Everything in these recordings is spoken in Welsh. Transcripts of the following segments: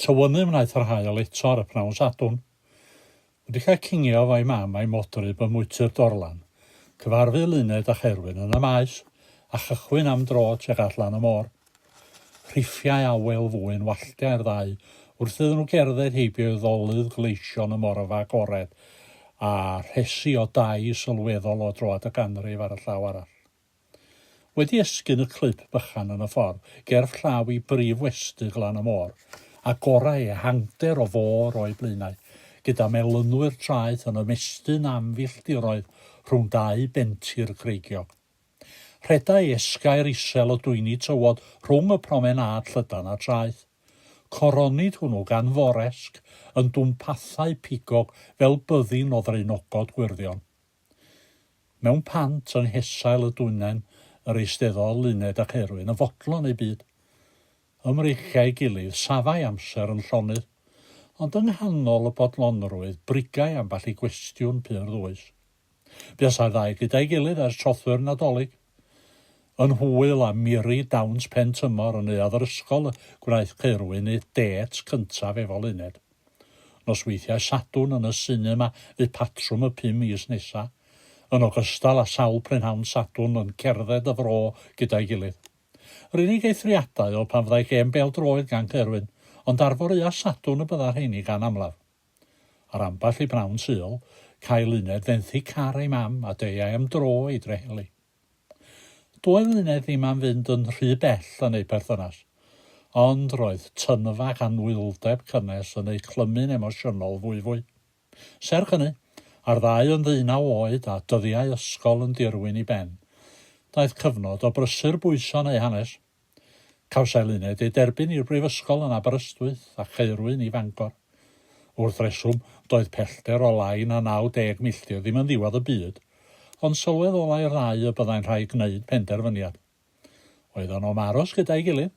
Tywynnu wnaeth yr haul eto ar y pnawn Sadwrn. Wedi cael cingio efo'i mam a'i modryb ym mwyty'r Dorlan, cyfarfu Luned a Cherwyn yn y Maes a chychwyn am dro tuag at lan y môr. Rhiffiai awel fwyn walltiau'r ddau wrth iddyn nhw gerdded heibio i ddolydd gleision y morfa agored a rhesi o dai sylweddol o droad y ganrif ar y llaw arall. Wedi esgyn y clwb bychan yn y ffordd gerdd llaw i brif westy Glan y Môr, agorau ehangder o fôr o'u blaenau, gyda melynwyr traeth yn ymestyn am filltiroedd rhwng dau bentir creigiog. Rhedai esgair isel o dwyni tywod rhwng y promenâd llydan a traeth. Coronid hwnnw gan foresg yn dwmpathau pigog fel byddin o ddraenogod gwyrddion. Mewn pant yng nghesail y dwyngen yr eisteddôdd Luned ac Erwin yn fodlon eu byd. Ym mreichiau'i gilydd safai amser yn llonydd, ond yng nghanol y bodlonrwydd brigai ambell i gwestiwn pur ddwys. Buasai'r ddau gyda'i gilydd ers trothwy'r Nadolig. Yn hwyl a miri dawns pen tymor yn neuadd yr ysgol y gwnaeth Caerwyn ei dêt cyntaf efo Luned. Nosweithiau Sadwrn yn y sinema fu patrwm y pum mis nesaf, yn ogystal â sawl prynhawn Sadwrn yn cerdded y fro gyda'i gilydd. Yr unig eithriadau oedd pan fyddai gêm bêl-droed gan Caerwyn, ond ar foreuau Sadwrn y bydda rheiny gan amlaf. Ar ambell i bnawn Sul, cael uned fenthyg car ei mam a deuai am dro i Dreheli. Doedd Luned ddim am fynd yn rhy bell yn eu perthynas, ond roedd tynfa ac anwyldeb cynnes yn eu clymu'n emosiynol fwyfwy. Serch hynny, a'r ddau yn ddeunaw oed a dyddiau ysgol yn dirwyn i ben, daeth cyfnod o brysur bwyso'n eu hanes. Cawsai Luned ei derbyn i'r brifysgol yn Aberystwyth a Chaerwyn i Fangor. Wrth reswm, doedd pellter o lai na 90 milltir ddim yn ddiwedd y byd, ond sylwedd olai'r ddau y byddai'n rhaid gwneud penderfyniad. Oeddan nhw am aros gyda'i gilydd,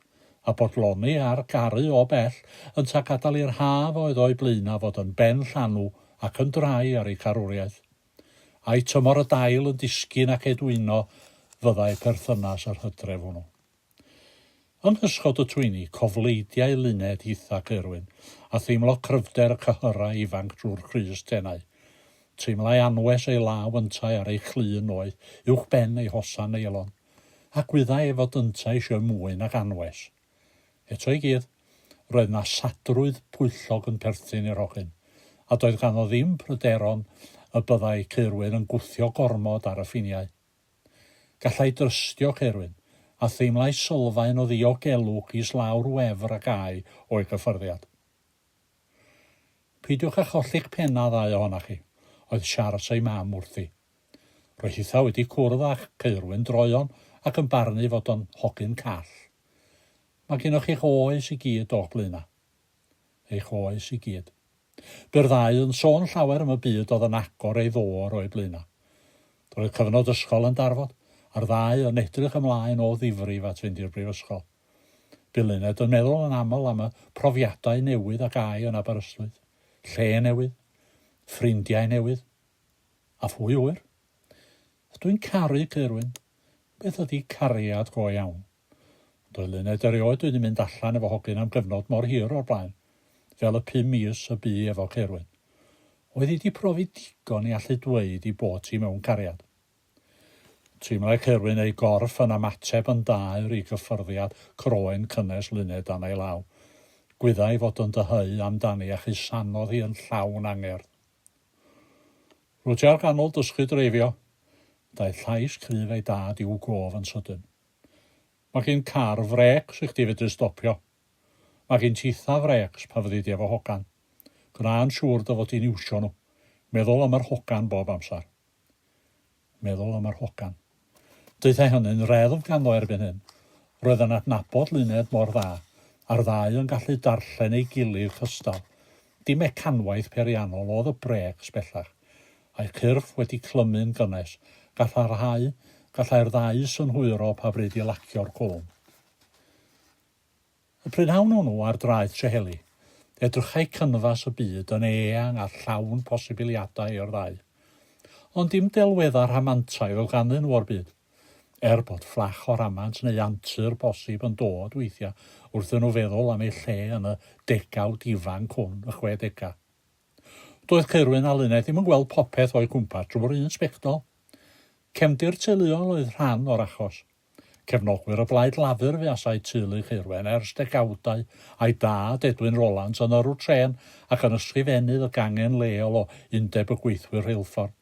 a bodloni ar garu o bell, yntau gadael i'r haf a oedd o'u blaenaf fod yn ben llanw ac yn drai ar eu carwriaeth. Ai tymor y dail yn disgyn ac edwyno fyddai perthynas yr hydref hwnnw? Yng nghysgod y twyni, cofleidiai Luned, Ithac, Irwin, a theimlo cryfder y cyhyrau ifanc drwy'r crys tenau. Teimlai anwes ei law yntau ar ei clun noeth, uwchben ei hosan neilon. Ac wyddai ei fod yntau eisiau mwy nag anwes. Eto i gyd, roedd 'na sadrwydd pwyllog yn perthyn i'r hogyn, a doedd ganddo ddim pryderon y byddai Ceirwyn yn gwthio gormod ar y ffiniau. Gallai drystio Ceirwyn, a theimlai sylfaen o ddiogelwch islaw'r wefr a gai o'i gyffyrddiad. Peidiwch â cholli'ch pennau ddau ohonoch chi, oedd Siars ei mam wrthi. Roedd hitha wedi cwrdd â'ch ceirwyn droeon ac yn barnu fod o'n hogyn call. Mae gennoch eich oes i gyd o'ch blaena'. Eich oes i gyd. Bu'r ddau yn sôn llawer am y byd oedd yn agor ei ddôr o'u blaena'. Roedd cyfnod ysgol yn darfod, a'r ddau yn edrych ymlaen o ddifrif at fynd i'r brifysgol. Bu Luned yn meddwl yn aml am y profiadau newydd a gai yn Aberystwyth, lle newydd, ffrindiau newydd. A phwy ŵyr? Ydw i'n caru Caerwyn? Beth ydy cariad go iawn? Doelenned erioed wedi mynd allan efo hogyn am gyfnod mor hir o'r blaen, fel y pum mis y bu efo Caerwyn. Oedd hi 'di profi digon i allu dweud i bot hi mewn cariad? Teimlai Caerwyn ei gorff yn ymateb yn daer i gyffyrddiad croen cynnes Luned dan ei law. Gwyddai fod yn dyheu amdani a chusanodd hi yn llawn angerdd. Rwyt ti ar ganol dysgu dreifio! Daeth llais cryf ei dad i'w gof yn sydyn. Mae gen car frêcs i chdi fedru stopio. Mae gen titha frêcs pan fyddi di efo hogan. Gwna'n siŵr dy fod di'n iwsio nhw. Meddwl am yr hogan bob amser. Meddwl am yr hogan. Deuthai hynny'n reddf ganddo erbyn hyn. Roedd yn adnabod Luned mor dda, a'r ddau yn gallu darllen ei gilydd cystal. Dim mecanwaith periannol oedd y brêcs bellach. A'u cyrff wedi clymu'n gynnes, gallai'r rhai, gallai'r ddau synhwyro pa bryd i lacio'r cwlwm. Y prynhawn hwnnw ar draeth Trehelli, edrychai canfas y byd yn eang a llawn posibiliadau i'r ddau. Ond dim delweddau rhamantaidd oedd ganddyn nhw o'r byd, er bod fflach o ramant neu antur posib yn dod weithiau wrthyn nhw feddwl am eu lle yn y degawd ifanc hwn, y chwedegau. Doedd Caerwyn a Luned ddim yn gweld popeth o'u cwmpas drwy'r un sbectol. Cefndir teuluol oedd rhan o'r achos. Cefnogwyr o Blaid Lafur fuasai teulu Ceirwen ers degawdau, a'i dad, Edwin Rolant, yn yrrwr trên ac yn ysgrifennydd y gangen leol o Undeb y Gweithwyr Rheilffordd.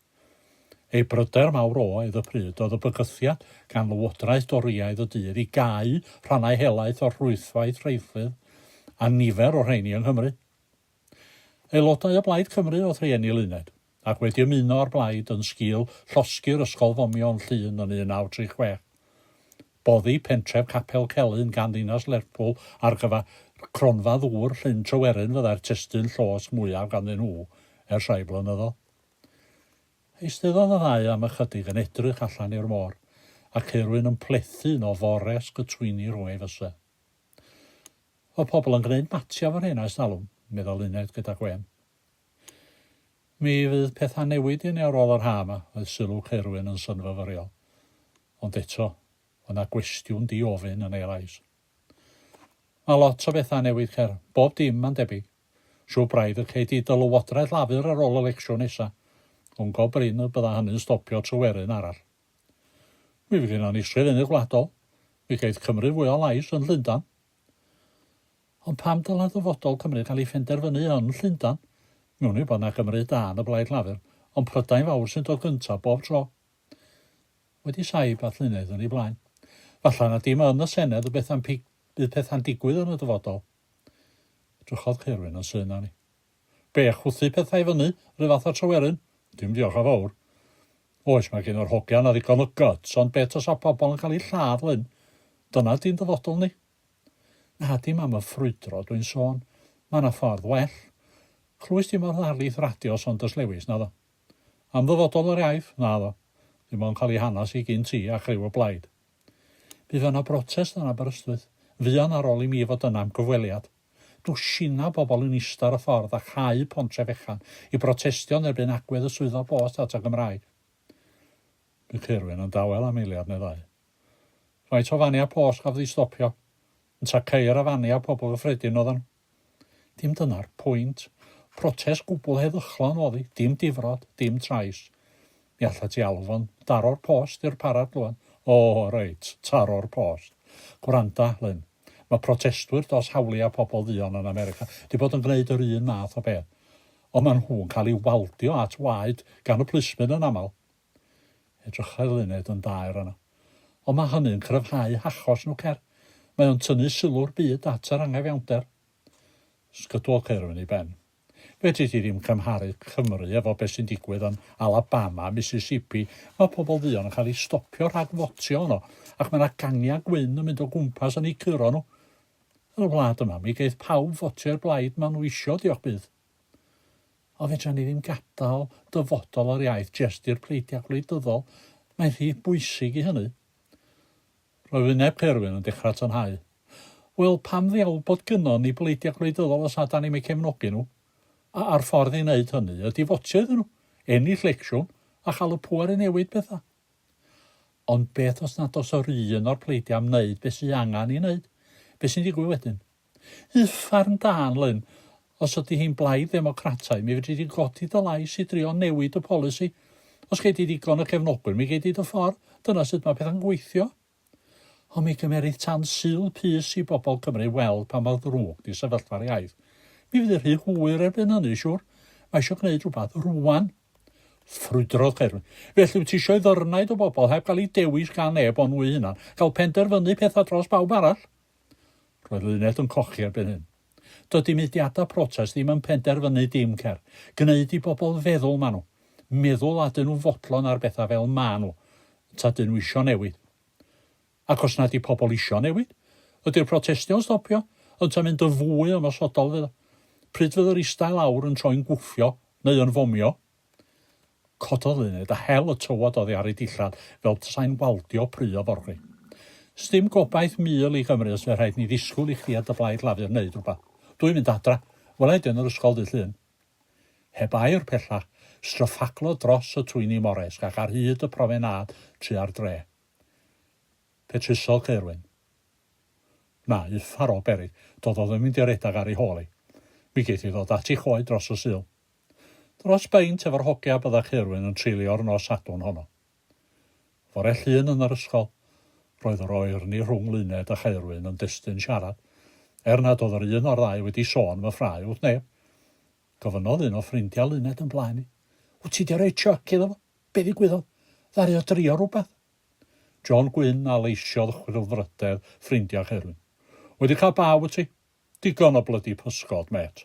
Ei bryder mawr oedd y pryd oedd y bygythiad gan Lywodraeth Dorïaidd y dydd i gau rhannau helaeth o'r rhwydwaith rheilffyrdd, a nifer o'r rheini yng Nghymru. Aelodau o Blaid Cymru oedd rhieni Luned, ac wedi ymuno â'r blaid yn sgil llosgi'r Ysgol Fomio yn Llŷn yn 1936, boddi pentref Capel Celyn gan ddinas Lerpwl ar gyfer Cronfa Ddŵr Llyn Tryweryn fyddai'r testun llosg mwyaf ganddyn nhw ers rhai blynyddoedd. Eisteddodd y ddau am ychydig yn edrych allan i'r môr, a Ceirwyn yn plethu un o forest y twyni rhwng ei fysedd. Oedd pobl yn gwneud matiau fan hyn ers talwm, meddai Luned gyda gwên. Mi fydd pethau'n newid i ni ar ôl yr haf 'ma, oedd sylw Caerwyn yn synfyfyriol. Ond eto, oedd 'na gwestiwn di-ofyn yn ei lais. Mae lot o bethau'n newid, Cer. Bob dim, mae'n debyg. Siŵr braidd y cei di dy lywodraeth Lafur ar ôl y lecsiwn nesa. Ond go brin y bydda hynny'n stopio Tryweryn arall. Mi fydd gennon ni sgrifennydd gwladol, mi geith Cymru fwy o lais yn Llundain. Ond pam dylai ddyfodol Cymru gael ei phenderfynu yn Llundain? Mi wn i bod 'na Gymry da yn y Blaid Lafur, ond Prydain Fawr sy'n dod gyntaf bob tro. Wedi saib a llunedd yn ei blaen. Falle na dim yn y Senedd y beth am pig bydd pethau'n digwydd yn y dyfodol. Edrychodd Caerwyn yn syn arni. Be, chwythu pethau i fyny, ryw fath o tryweryn? Dim diolch yn fawr. Oes, mae gen yr hogia 'na ddigon o guts, ond be tasa pobl yn cael eu lladd, Lyn? Dyna ydi'n dyfodol ni. Na, dim am y ffrwydro dwi'n sôn. Mae 'na ffordd well. Clywist ti mor ddarlith radio Saunders Lewis, naddo? Am ddyfodol yr iaith? Naddo. Dim ond cael ei hanas i gin ti a chriw y blaid. Bydd yna brotest yn Aberystwyth. Fuan ar ôl i mi fod yna am gyfweliad. Dwsinau pobl yn ista ar y ffordd a chau Pontre Fechan i brotestio yn erbyn agwedd y Swyddfa Bost at y Gymraeg. Bu Caerwyn yn dawel am eiliad neu ddau. Faint o faniau post gafodd eu stopio? Yntau ceir a faniau pobl gyffredin oeddan nhw? Dim dyna'r pwynt. Protest gwbl heddychlon oedd hi, dim difrod, dim trais. Mi allet ti alw fo'n daro'r post i'r parad glöwed. O, reit, taro'r post. Gwranda, Lyn. Mae protestwyr dros hawliau pobl dduon yn America 'di bod yn gwneud yr un math o beth, ond maen nhw'n cael eu waldio at waed gan y plismyn yn aml. Edrychai'r luned yn daer yna. Ond mae hynny'n cryfhau hachos nhw, cer. Mae o'n tynnu sylw'r byd at yr anghyfiawnder. Sgydwodd Caerwyn ei ben. Fedri di ddim cymharu Cymru efo be sy'n digwydd yn Alabama a Mississippi, mae pobl dduon yn cael eu stopio rhag fotio yno, ac mae yna gangiau gwyn yn mynd o gwmpas yn eu curo nhw. Yn y wlad yma, mi geith pawb fotio i'r blaid maen nhw isio, diolch byth. Ond fedra ni ddim gadael dyfodol yr iaith jest i'r pleidiau gwleidyddol, mae'n rhy bwysig i hynny. Roedd wyneb Caerwyn yn dechrau tynhau. Wel, pam ddiawl bod gynnon ni bleidiau gwleidyddol os na 'dan ni'm eu cefnogi nhw? A- a'r ffordd i wneud hynny ydi fotio iddyn nhw, ennill lecsiwn, a chael y pŵer i newid pethau. Ond beth os nad oes yr un o'r pleidiau am wneud be sy angen i wneud? Be sy'n digwydd wedyn? Uffarn da, Anlyn. Os ydy hi'n blaid ddemocrataidd, mi fedri di godi dy lais i drio newid y polisi. Os gei di ddigon o gefnogwyr, mi gei di dy ffordd. Dyna sut mae pethau'n gweithio. Ond mi gymerith tan Sul pys i bobl Cymru weld pa mor ddrwg di sefyllfa'r iaith. Mi fydd hi'n rhy hwyr erbyn hynny, siŵr. Mae eisiau gwneud rhywbeth rwan. Ffrwydrodd Caerwyn. Felly wyt ti eisiau i ddyrnaid o bobl, heb gael eu dewis gan neb ond nhw eu hunan, gael penderfynu pethau dros bawb arall? Roedd Luned yn cochi erbyn hyn. Dydi mudiadau protest ddim yn penderfynu dim cer. Gneud i bobl feddwl ma nhw. Meddwl a dyn nhw'n fodlon ar bethau fel ma nhw. Ta dyn nhw isio newid. Ac os na di pobl isio newid? Ydi'r protestio'n stopio? Ynta mynd yn fwy ymosodol fydd o? Pryd fydd yr ista i lawr yn troi'n gwffio neu yn fomio? Cododd uned a hel y tywod oddi ar ei dillad fel tasai'n waldio pry o forwri. Sdim gobaith mil i Gymru os fe rhaid ni ddisgwyl i chdi a dy blaid Lafur neud rwbath. Dw i'n mynd adra. Wela i di yn yr ysgol ddydd Llun. Heb air pellach, stryffaglodd dros y twyni moresg ac ar hyd y profenâd tua'r dre. Fe trusodd Caerwyn. Na, uffar o beryg, dododd yn mynd i redag ar ei hôl hi. Mi geith hi ddod at ei choed dros y Sul. Dros beint efo'r hogia a bydda Caerwyn yn treulio'r nos Sadwrn honno. Fore Llun yn yr ysgol, roedd yr oerni rhwng Luned a Chaerwyn yn destun siarad, er nad oedd yr un o'r ddau wedi sôn am y ffrae wrth neb. Gofynnodd un o ffrindiau Luned yn blaen i, Wt ti 'di rhoi chuck iddo fo? Be ddigwyddodd? Ddaru o drio rhywbeth? John Gwyn a leisiodd chwilfrydedd ffrindiau Chaerwyn. Wedi cael baw wyt ti? Digon o blydi pysgod, mêt.